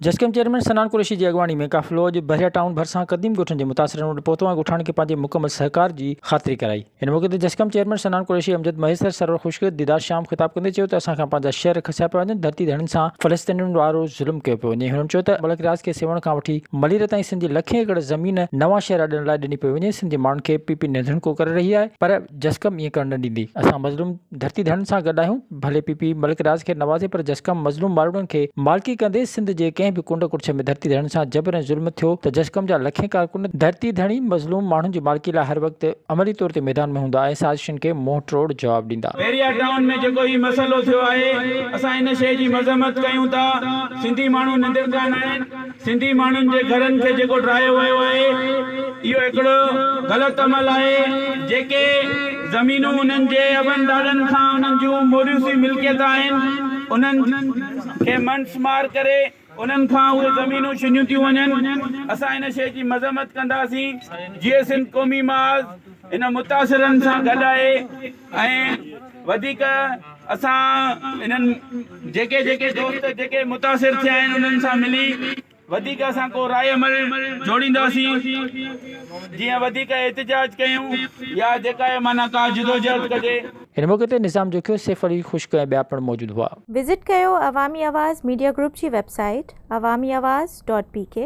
جسقم chairman Sanan Qureshi جي اڳواڻي ۾ قافلو اڄ بحريا ٽائون ڀرسان قديم ڳوٺن جي متاثرن وٽ پهتو ۽ ڳوٺاڻن کي پنهنجي مڪمل سهڪار جي خاطري ڪرائي. ان موقعي تي جسقم چيئرمين صنعان قريشي امجد مهيسر سرور خشڪ ديدار شيام خطاب ڪندي چيو ته اسان کان پنهنجا شهر کسيا پيا وڃن ڌرتي ڌڻين سان فلسطينين وارو ظلم ڪيو پيو وڃي هنن چيو ته ملڪ رياض کي سيوهڻ کان وٺي ملير تائين سنڌ جي لکين ايڪڙ زمين نوان شهر اڏڻ لاء ڏني پئي وڃي سنڌ جي ماڻهن کي پي پي نڌڻڪو ڪري رهي آهي پر جسقم ائين ڪرڻ نه ڏيندي، اسان مظلوم ڌرتي ڌڻين سان گڏ آهيون، ڀلي پي پي ملڪ راز کي نوازي پر جسقم مظلوم مالڙن کي مالڪي ڪندي، سنڌ جي ڪنهن به ڪنڊ ڪڙڇ ۾ ڌرتي ڌڻين سان جبر ۽ ظلم ٿيو ته جسقم جا لکين ڪارڪن، ڌرتي ڌڻي مظلوم ماڻهن جي مالڪي لاء هر وقت عملي طور تي ميدان ۾ هوندا ۽ سازشن کي منهن ٽروڙ جواب ڏيندا. بحريا ٽائون ۾ جيڪو هي مسئلو ٿيو آهي، اسان ان شيء جي مذمت ڪيون ٿا، سنڌي ماڻهو نندڙ ڪانه آهن، سنڌي ماڻهن جي گهرن کي جيڪو ڊاهيو ويو آهي اهو هڪڙو غلط عمل آهي جيڪي زمينون انهن جي ابن ڏاڏن کان انهن جون موريثي ملڪيت آهن انهن کي منس مار ڪري انهن کان اهي زمينون ڇنيون ٿيون وڃن اسان ان شي جي مذمت ڪنداسين جيئي سنڌ قومي محاذ ان متاثرن سان گڏ آهي. ۽ وڌيڪ اسان انهن جيڪي جيڪي دوست جيڪي متاثر ٿيا آهن انهن سان ملي وڌيڪ اسان ڪو راء عمل جوڙينداسين جيئن وڌيڪ احتجاج ڪيون يا جيڪا اهي معنيٰ ڪا جدوجهد ڪجي. هن موقعي تي نظام جوکيو، سيف علي خشڪ ۽ ٻيا پڻ موجود هئا. وزٽ ڪيو عوامي آواز ميڊيا گروپ جي website Awami Awaz dot P ڪي.